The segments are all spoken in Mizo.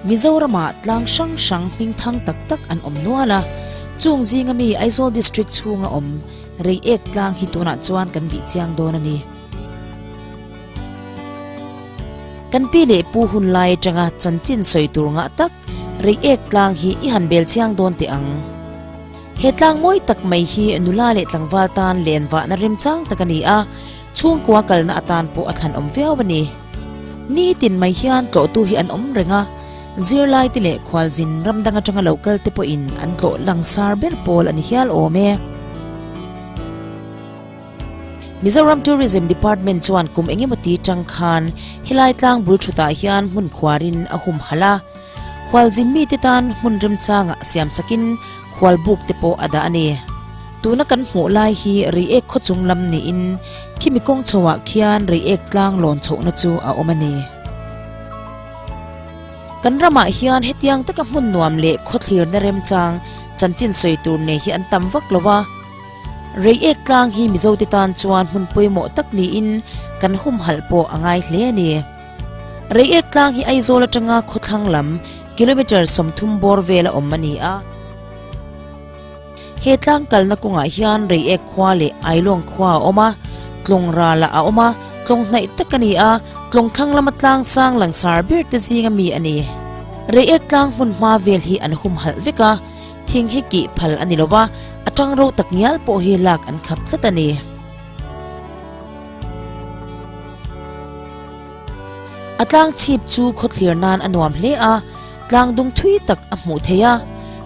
Mizoramah tlang hrang hrang hming thang tak tak an awm nual a, chung zinga mi Aizawl District chhunga awm rei ek tlang hi tunah chuan kan bih chiang dawn a ni. Kan pi leh pu hun lai atanga chanchin sawi tur ngah tak rei ek tlang hi i han bel chiang dawn teh ang. He tlang mawi tak mai hi nula leh tlangval tan len vahna remchang tak a ni a, Chhungkua kalna atan pawh a thlan awm viau a ni. Nitin mai hian tlawhtu hi an awm reng a, zirlaite leh khualzin ramdang atanga lo kalte pawhin an tlawh langsar ber pawl a ni hial awm e. Mizoram Tourism Department chuan kum eng emaw ti tang khan helai tlang bul thutah hian hmun khuarin a humhal a. Khual zin mite tan hmun remchangah siam sakin khual buk te pawh a dah a ni. Tuna kan hmuh lai hi reiek khaw chung lam niin khimi kawng chho ah khian reiek tlang lawn chhohna chu a awm a ni. Kan ram ah hian hetiang taka hmun nuam leh khaw thlirna remchang chanchin sawi tur nei hi an tam vak lo a. Reiek tlang hi Mizote tan chuan hmun pawimawh tak niin kan humhalh pawh a ngai hle a ni. Rei ek tlang hi Aizawl atanga khawthlang lam kilometre sawmthum bawr vel a awm a ni a. He tlang kalna kawngah hian rei ek khua leh Ailawng khua a awm a, tlawng rala a awm a, tlawng hnaih tak a ni a, tlawng thlang lama tlang sang langsar ber te zinga mi a ni. Rei ek tlang hmunhma vel hi an hum halh vek a, thing hi kih phal a ni lo va, atang ro tak ngial pawh hi lak an khap tlat a ni. A tlang chhip chu khawthlir nan a nuam hle a, tlang dung thui tak a hmuh theih a,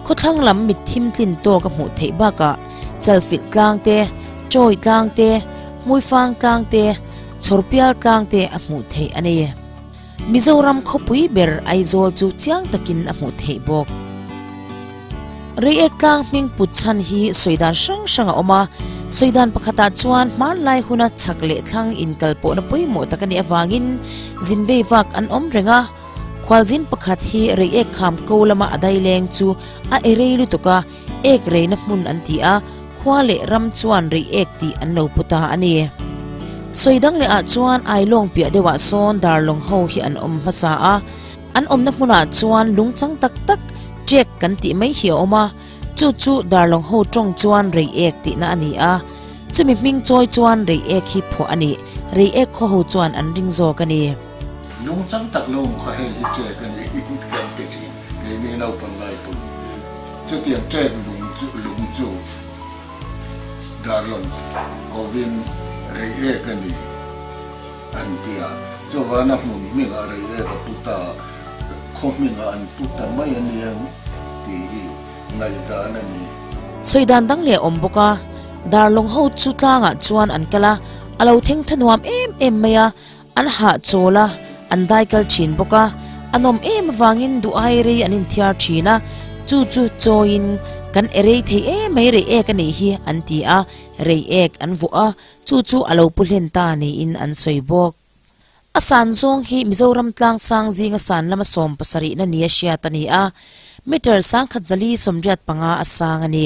khawthlang lam mit thim tlin tawk a hmuh theih bakah chalfilh tlang te, chawi tlang te, hmuifang tlang te, chhawrpial tlang te a hmuh theih a ni. Mizoram khawpui ber Aizawl chu chiang takin a hmuh theih bawk. Reiek tlang hming put chhan hi sawidan hrang hrang a awm a, sawidan pakhatah chuan hmanlai huna chhak leh thlang inkalpawhna pawimawh tak a nih avangin zin veivak an awm reng a. Khualzin pakhat hi reiek kham ko lama a daileng chu a erei lutuk a, Ek reina hmun an ti a, khua leh ram chuan rei ek tih an lo put a a ni. Sawi dang lehah chuan ai lawng piah deuhah sawn darlawng ho hi an awm hmasa a, an awmna hmunah chuan lungchang tak tak, check, kan tih mai hi a awm a, chu chu darlawng ho tawng chuan rei ek tihna a ni a, chumi hming chawi chuan rei ek hi phuah a nih, rei ek khaw ho chuan an ring zawk a ni. Lung chang tak lo kha hei hi track a ni kan ti thin. Kei nge naupang lai pawh ni hi. Chutiang track lung chu lung chu Darlon kovin rei ek a ni an ti a. Chuvana hmun hming a rei ek a put a, khaw hming a an put ta mai a nia tih hi ngaih dan a ni. Sawi dan dang leh a awm bawk a. Darlong ho chu tlangah chuan an kal a, a lo thengtha nuam em em mai a. An hah chawl a, an dai kal thin bawk a, a nawm em avangin duh ai rei an inthiar thin a, chu chu chawiin kan e rei thei e mai rei ek a nih hi an ti a, rei ek an vuah a, chu chu a lo pu hlen ta niin an sawi bawk. A san zawng hi Mizoram tlang sang zinga san lama sawm pasarihna ni a hriat a ni a, metre sangkhat zali sawmriat panga a sang a ni.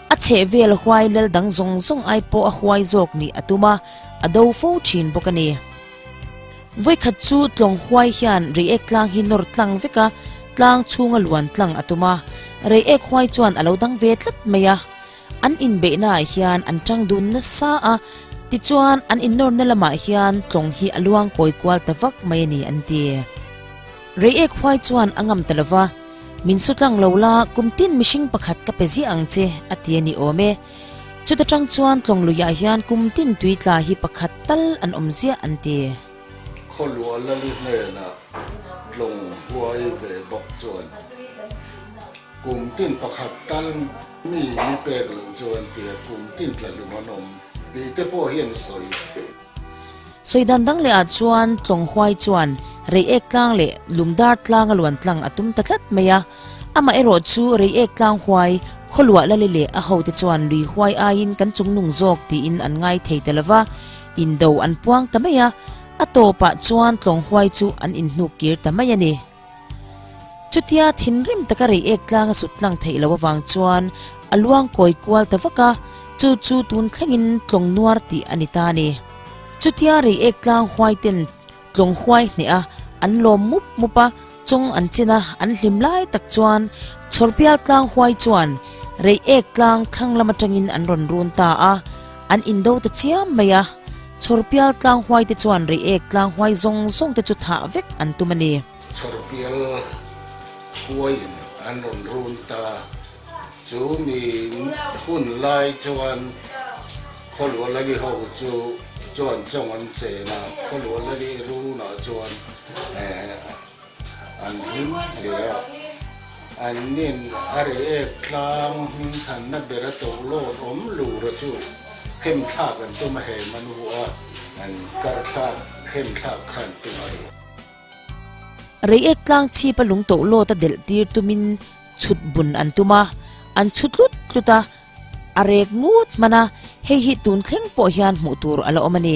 A chhehvel huai lal dang zawng zawng ai pawh a huai zawk nih a tum a, a do fo thin bawk a ni. Vawikhat chu tlawng huai hian reiek tlang hi nawr tlang vek a, tlang chhunga luan tlang a tum a, reiek huai chuan a lo dang ve tlat mai a. An inbeihna ah hian an tang dun nasa a, tichuan an innawrna lamah hian tlawng hi a luang kawi kual ta vak mai a ni an ti. Reiek huai chuan a ngam ta lova, Min saw tlang lo la, kum tin mihring pakhat ka pe ziah ang che, a ti a ni awm e. Chuta tang chuan Tlawngluiah hian kum tin tui tla hi pakhat tal an awm ziah an ti. Khawnluah Lali hnenah tlawng huai ve bawk chuan kum tin pakhat tal mi ni pek lo chu an ti a, kum tin tla hlum an awm tih te pawh hian sawi. Sawi dan dang leh ah chuan Tlawnghuai chuan rei ek tlang leh lung dar tlang a luan tlang a tum ta tlat mai a. Amah erawh chu rei ek tlang huai, Khawluah Lali leh a ho te chuan lui huai aiin kan chung nung zawk tiin an ngai thei ta lova, indo an puang ta mai a. A tawpah chuan Tlawnghuai chu an inhnuk kir ta mai a ni. Chutia thinrim taka reiek tlanga sut tlang theih lo avang chuan a luang kawi kual ta vak a, chu chu tun thlengin tlawng nuar tih a ni ta ni. Chutia reiek tlang huai ten tlawng huai hneh a, an lawm mup mup a, chawng an chin a, an hlim lai tak chuan chhawr bial tlang huai chuan reiek tlang thlang lam atangin an rawn run ta a, an indo ta chiam mai a. Chhawrpial tlanghuaite chuan reiek tlanghuai zawng zawng te chu thah vek an tum a ni. Chhawrpial huaiin an rawn run ta. Chu miin hun lai chuan Khaw-luah Lali ho chu chuan chawng an chen a. Khaw-luah Lali runah chuan. An hlim hle a, an nen a re ek tlang hming thanna ber a to lawt awm lura chu hemthlak an tum a he manu hu a, an karthlak hemthlak kha an tum a ri. Rei ek tlang chhip a lung to lawt a delh tir tumin chhut bun an tum a, an chhu tlut tlut a, a rek ngut hman a, hei hi tun thleng pawh hian hmuh tur a la awm a ni.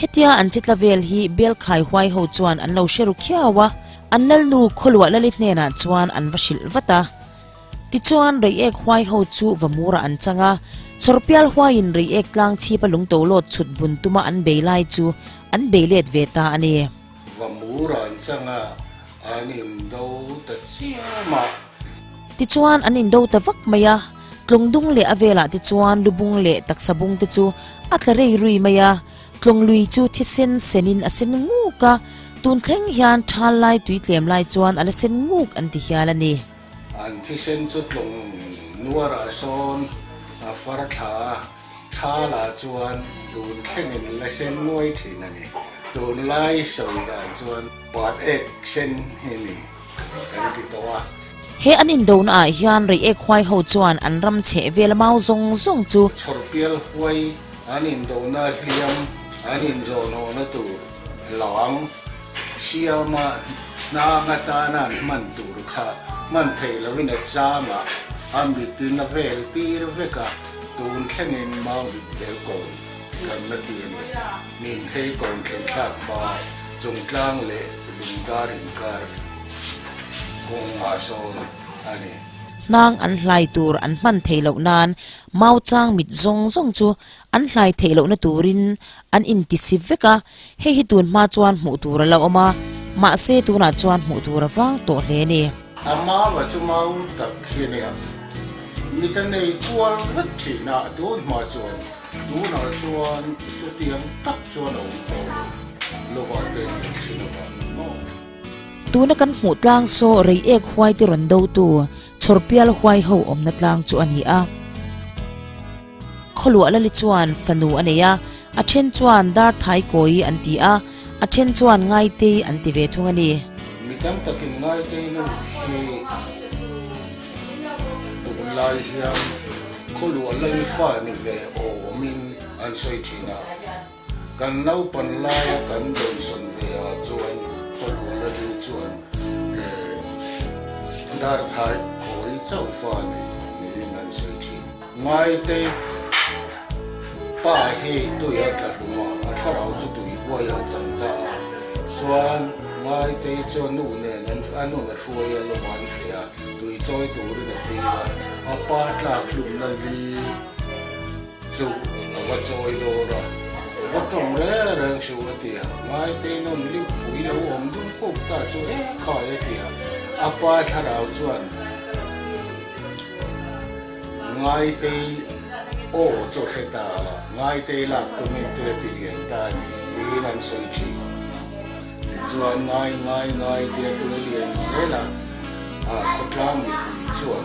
Hetia an chitla vel hi Belkhai huai ho chuan an lo hre ru khiau a, an lalnu Khawluah Lalit hnenah chuan an va hrilh vat a. Tichuan Reiek huai ho chu Vamura an chang a, Chhawrpial huaiin Reiek tlangchhipa lungto lawt chhut bun tuma an bei lai chu an bei let ve ta a ni. Va mu ran changa an in do ta chiam a. Tichuan an in do ta vak mai a. Tlawng dung leh a velah te chuan lubung leh taksa bung te chu a tla rei rui mai a. Tlawng lui chu thisen senin a sen nguk a. Tun thleng hian thal lai tui tlem lai chuan ala sen nguk an ti hial a ni. An thisen chu tlawng nuarah sawn a far thla a. Thla lah chuan dun thlengin la sen nuai thin a ni. Tun lai sawi dan chuan pat ek sen hi ni kan ti tawh a. He an indon ah hian rei ek huai ho chuan an ram chheh vel mau zawng zawng chu. Chhawrpial huai an indona hliam an inzawhnawnna tur. Lam, Siama hna nga tana an hman tur kha hman thei lo in a chang a, a mit in a vel tir vek a, tun thleng in mau mit ber kawn kan la ti a ni. Min phei kawn thleng thlak hma chung tlang leh lungtar inkar kung mah sawn a ni. Hnang an hlai tur an hman thei loh nan mau chang mit zawng zawng chu an hlai theih lohna turin an intisi vek a, hei hi tun hma chuan hmuh tur a la awm a, mahse tunah chuan hmuh tur a vang tawh hle ni. A mau a chu mau tak hi nia, mit a nei kual vek thinah a tun hma chuan tunah chuan chutiang tak chuan a awm tawh lo, lovah te an nei thin avang ang maw? Tuna kan hmuh tlang saw rei ek huaite rawn dotu chhawrpial huai ho awmna tlang chu a ni a. Khawluah Lali chuan fanu a nei a, a then chuan Darthai Kawi an ti a, a then chuan Ngaitei an ti ve thung a ni. Mi tam takin Ngaitei na ruk hi duh lai hian Khawluah Lali fa ni ve awm in an sawi thin a. Kan naupan laia kan dawnsawn ve ah chuan Palo la ding chuan ehh Darthai khawi chauh fa ni? Niin an sawi thin. Ngaite pa hi tui a tla hlum a, a thlarau chu tui huai a chang ta a, chuan Ngaite chuan nu nen an a nun a hruai a lawm a an hre a, tui chawi turin a tir a, a pa tlak hlumna li. Chu a va chawi dawr a, va tawng le reng hrim a ti a, ngaite nawn lipui lo awm dum kuk ta chu e khai a ti a, a pa thlarau chuan ngaite aw chaw hre ta a, ngaite lak tum in tui a ti lian ta a ni tiin an sawi thin a, tichuan ngai ngai ngaite a tui a lian zel a, a khawtlang mipui chuan.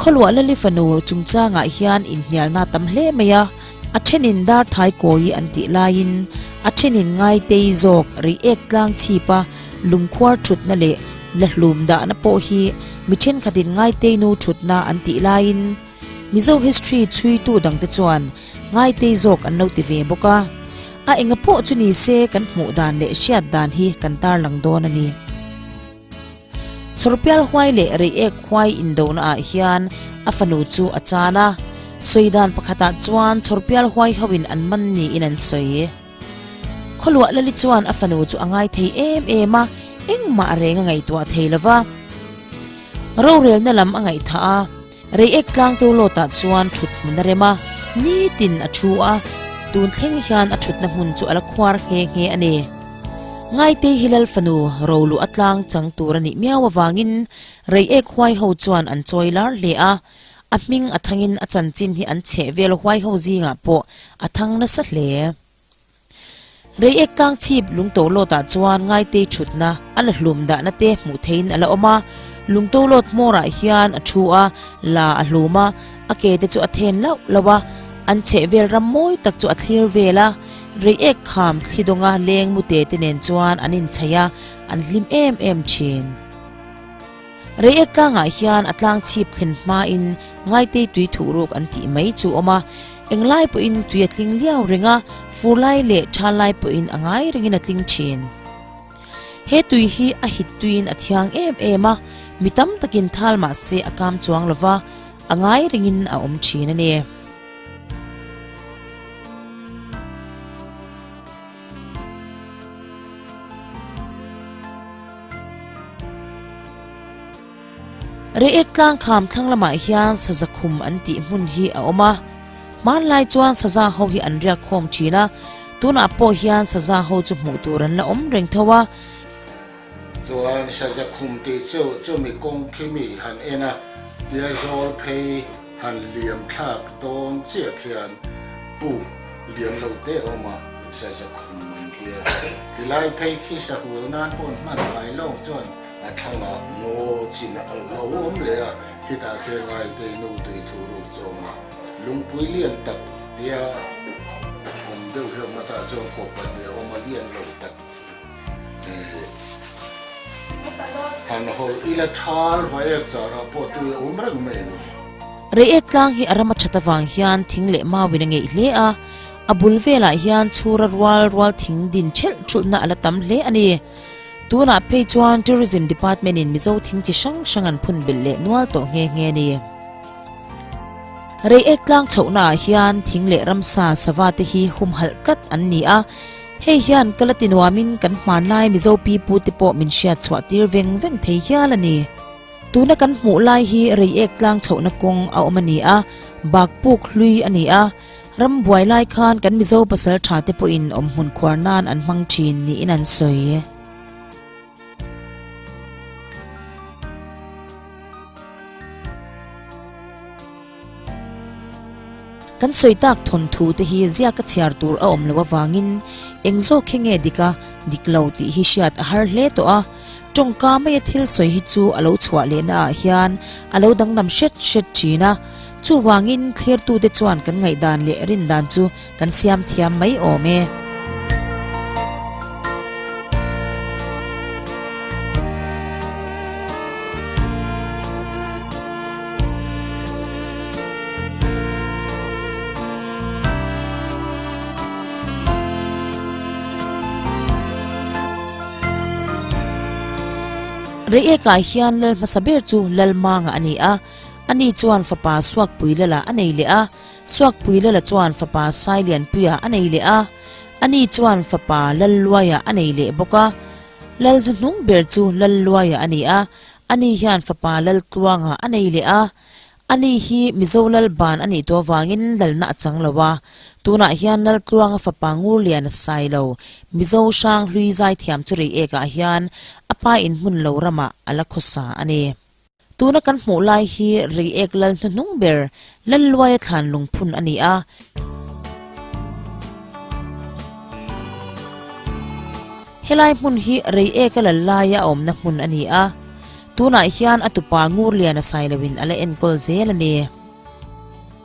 Khawluah Lali fanu chungchangah hian inhnialna a tam hle mai a, a thenin darthai kawi an tih laiin a thenin ngaitei zawk, reiek tlang chhip a, lungkhuar thutna leh la hlum dahna pawh hi mi thenkhatin ngaitei nu thutna an tih laiin Mizo history chhuitu dangte chuan ngaitei zawk an lo ti ve bawk a. A enga pawh chu nise kan hmuh dan leh hriat dan hi kan tarlang dawn a ni. Chhawrpial huai leh reiek huai indona ah hian a fanu chu a chan a, sawi dan pakhat ah chuan chhawrpial huai ho in an man niin an sawi. Khaw-luah Lali chuan a fanu chu a ngai thei em em a, engmah reng a ngaihtuah thei lova, rorelna lam a ngaihthah a. Rei ek tlang tur lawtah chuan thut hmun a rem a, nitin a thu a, tun thleng hian a thutna hmun chu a la khuar nghe nghe a ni. Ngaitei hi lal fanu ro luh a tlang chang tur a nih miau avangin rei ek huai ho chuan an chawi lar hle a, a hming a thangin a chanchin hi an chheh vel huai ho zingah pawh a thang nasa hle. Rei ek kang chhip Lungto Lawt ah chuan ngaitei thutna a la hlum dahna te hmuh theihin a la awm a, Lungto Lawt hmawr ah hian a thu a, la a hlum a, a ke te chu a then lauh lauh a, an chheh vel ram mawi tak chu a thlir vel a, rei ek kham thli dawng a leng mute te nen chuan an in chhai a, an hlim em em thin. Rei ek tlangah hian a tlang chhip thlen hmain ngaitei tui thuh ruk an tih mai chu awm a, englai pawhin tui a tling liau reng a, furlai leh thanlai pawhin a ngai rengin a tling thin. He tui hi a hit tuiin a thiang em em a, mi tam takin thal mah se a kam chuang lo va, a ngai rengin a awm thin a ni. Reek tlangkham thlang lamah hian saza khum an tih hmun hi a awm a, hmanlai chuan saza ho hi an riak khawm thin a, tunah pawh hian saza ho chu hmuh tur an la awm reng tho a. Chuan Sazakhum tih chu chumi kawng khi mi han en a, tia zawl phei han liamthlak dawn chiah khian Pu Lianlo Teawma Sazakhum an tia. Tilai phei khi sahual nan pawn hman ngai lo chuan a thlanga ngaw chin a alh lo awm leh a, khitah khian ngaitei nu tui thu ruk zawng a lungpui lian tak tia awm deuh hi awm a tah chuan kawp pahnih a awm a lian lo tak. Han hawl ila thar va ek zarah pawh tui a awm reng mai lo. Reiek tlang hi a ram a that avang hian thing leh mauin a ngeih hle a, a bul velah hian chhur a rual rual thing din ṭhelh ṭhulhna a la tam hle a ni. Tunah phei chuan Tourism Department in Mizo thing chi hrang hrang an phun belh leh nual tawh nghe nghe a ni. Reiek tlang chhohna ah hian thing leh ramsa sava te hi humhalh tlat an ni a, Hei hian ka la ti nuamin kan hmanlai Mizo pi pu te pawh min hriat chhuah tir veng veng thei hial a ni. Tuna kan hmuh lai hi reiek tlang chhohna kawng a awm a ni a, bakpuk hlui a ni a, ram buai lai khan kan Mizo pasal tha te pawhin awmhmun khuar nan an hmang thin niin an sawi. Kan sawi tak thawnthu te hi ziak a chhiar tur a awm lo avangin eng zawk khe nge dik a dik lo tih hi hriat a har hle tawh a. Tawngka maia thil sawi hi chu a lo chhuah lehna ah hian a lo danglam hret hret thin a. Chuvangin thlertute chuan kan ngaihdan leh rindan chu. kan siam thiam mai awm e. Reiek ah hian lal hmasa ber chu lal manga a ni a, ani chuan fapa Suakpui lala a nei leh a, Suakpui Lala chuan fapa Sailianpuia a nei leh a, ani chuan fapa Lalluaia a nei leh bawk a. Lal hnuhnung ber chu Lalluaia a ni a, ani hian fapa Laltluanga a nei leh a. Ani hi Mizo Lal ban a nih tu avangin Lalna a chang lo a. Tunah hian Laltluanga fapa Ngurlian a sai lo, Mizo hrang hlui zai thiam chu reiek ah hian a pa inhmun lo ramah a la khawsa a ni. Tuna kan hmuh lai hi reiek lal hnuhnung ber, lalluaia thlan lungphun a ni a. Helai hmun hi reieka lallaia a awmna hmun a ni a. Tunah hian a tupa Ngurliana sailoin a la enkawl zel a ni.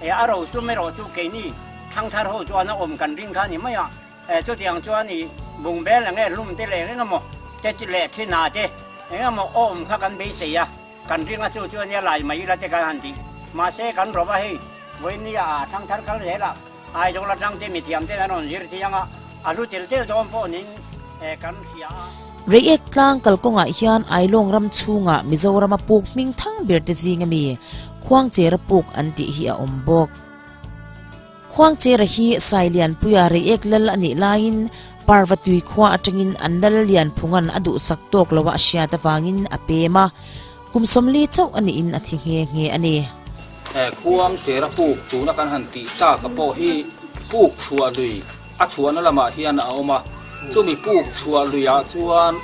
Eh a ro chu merawh chu keini thangthar ho chuan a awm kan ring kha ni mai a, eh chutiang chuan i bungbel eng nge hlum te leh reng emaw te leh thi na te eng emaw a awm kha kan beisei a, kan ring a chu chu ania lai mai ila te kan han tih. Mahse kan rawha hei vawinia a thangthar kal zel a, Aizawl atang te mithiam ten an rawn zir thiang a, a hlu tel tel dawn pawh niin eh kan hria a. Reiek tlang kal kawngah hian Ailawng ram chhunga Mizorama puk hming thang berte zinga mi Khuangchera puk an tih hi a awm bawk. Khuangchera hi Sai Lianpuia Reiek lal a nih laiin Parva tui khua atangin an lal lian phungan a duhsak tawk loh a hriat avangin a pem a, kum sawmli chauh a nihin a thi nghe nghe a ni. Khuangchera puk tuna kan han tih taka pawh hi puk chhuah lui A chhuahna lamah hian a awm a, chumi puk chhuah luiah chuan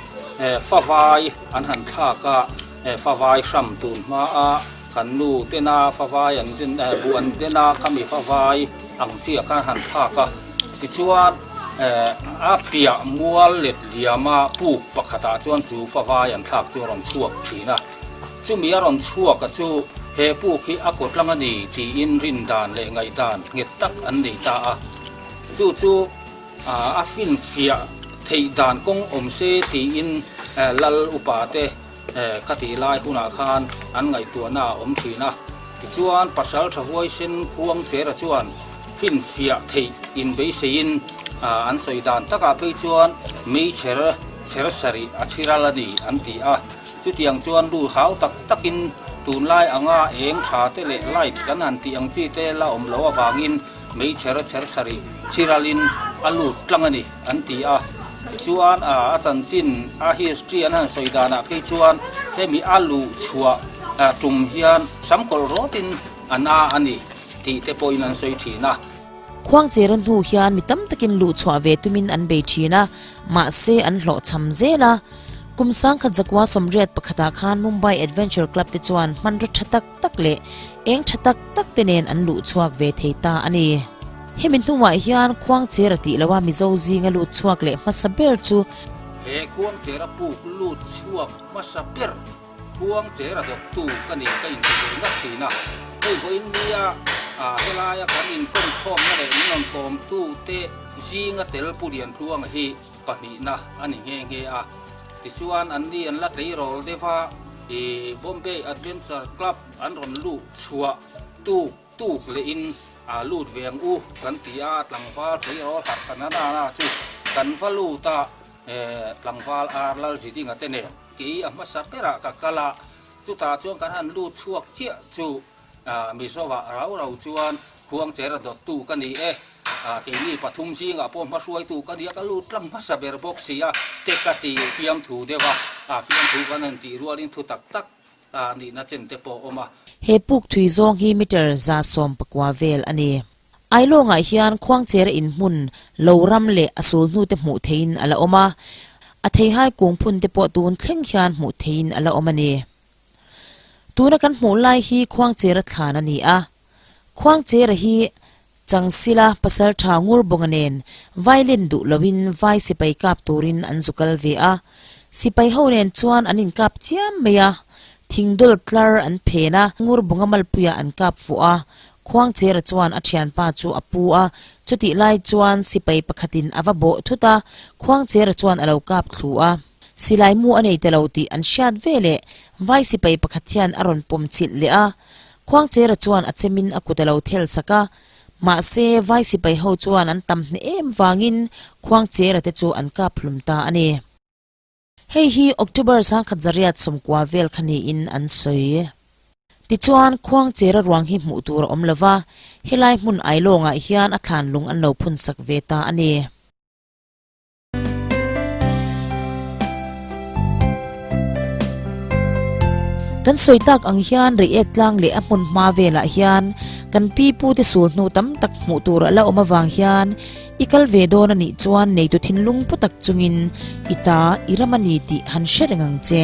fa vai an han thlak a, fa vai hram tun hmaa kan nu tena fa vai an den a, bu an den a, ka mi fa vai ang chiah khan han thlak a. Tichuan a piah mual let liama puk pakhatah chuan chu fa vai an thlak chu a rawn chhuak thin a. Chumi a rawn chhuak a chu he pu khi a kawtlang a ni tiin rin dan leh ngaih dan nghet tak an nei ta a. Chu chu a fin fiah theih dan kawng awm se tiin Lal upa te ka tih lai hunah khan an ngaihtuahna a awm thin a. Tichuan pasal tha huai sen Khuang Chera chuan fin fiah theih in beiseiin an sawi dan takah phei chuan Meichher chher sarih a chhiral a ni an ti a. Chutiang chuan lu hau tak takin tunlai anga eng tha te leh light kan han tih ang chi te la awm loh avangin meichher chher sarih chiralin a lut tlang a ni an ti a. Tichuan a a chanchin a history an han sawi danah phei chuan hemi a luh chhuah tum hian sam kawlh rawtin an a a ni tih te pawhin an sawi thin a. Khuangchera hnu hian mi tam takin luh chhuah ve tumin an bei thin a, mahse an hlawhchham zel a. Kum sangkhat zakua sawmriat pakhatah khan Mumbai Adventure Club te chuan hmanraw tha tak tak leh eng tha tak tak te nen an luh chhuak ve thei ta a ni. Hemi hnungah hian khuang chera tih loha Mizo zinga lut chhuak leh hmasa ber chu. He khuang chera puk lut chhuak hmasa ber khuang chera dawptu ka ni ka inti ve nghat thin a. Hei vawi nia ah helaia kan inpawm khawmna leh min rawn kawmtu te zinga tel pu riantluanga hi. pahnihna a ni nghe nghe a, tichuan an ni an la tleirawl deuh a, ih Bombay Adventure Club an rawn luh chhuah tuk tuk leh in aa lut ve ang u kan ti a, a tlangval tleirawl harhkhan a nana chu kan va lut a, eh tlangval ar lal zi ding a te nen kei a hmasa berah ka kal a, chutah chuan kan han lut chhuak chiah chu. Ah, Mizoa rau rau chuan khuang chera dawttu ka ni e, ah, keini pathum zingah pawh hmahruaitu ka nia, ka lut tlang hmasa ber bawk sia, te ka ti fiam thu deuh a, ah, fiam thu kan han tih rualin thu tak tak, ah, nihna chen te pawh awm a. He pukthui zawng hi meter za sawm pakua vel a ni. Ailawngah hian khuang chera in hmun lo ram leh a sul hnute hmuh theihin a la awm a, a theihai kung phun te pawh tun thleng hian hmuh theihin a la awm a ni. Tuna kan hmuh lai hi Khuangchera thlan a ni a. Khuangchera hi Changsila pasal tha ngur bawngah nen violin duh loin vai sipai kap turin an zu kal ve a. Sipai ho nen chuan an inkap chiam mai a, thing dawl tlar an phen a, ngur bawngah Malpuia an kap fuh a. Khuangchera chuan a thianpa chu a pu a, chutih lai chuan sipai pakhatin a va bawh thut a, Khuangchera chuan a lo kap thlu a. Silai mu a nei ta lo tih an hriat ve leh vai sipai pakhat hian a rawn pawm chilh leh a. Khuangchera chuan a chem in a kut a lo thel sak a. Mahse, vai sipai ho chuan an tam hneh em vang in Khuangchera te chu an kap hlum ta a ni. Hei hi October sangkhat zariat sawmkua vel kha ni in an sawi. Tichuan, Khuangchera ruang hi hmuh tur a awm lo va, helai hmun ailawng ah hian a thlan lung an lo phun sak ve ta a ni. Kan sawi tak ang hian react tlang leh a hmun hma velah hian kan pi pu te sul hnu tam tak hmuh tur a la awm avang hian i kal ve dawn a nih chuan neitu thinlung pu tak chungin i ta i ram a ni tih han hre reng ang che.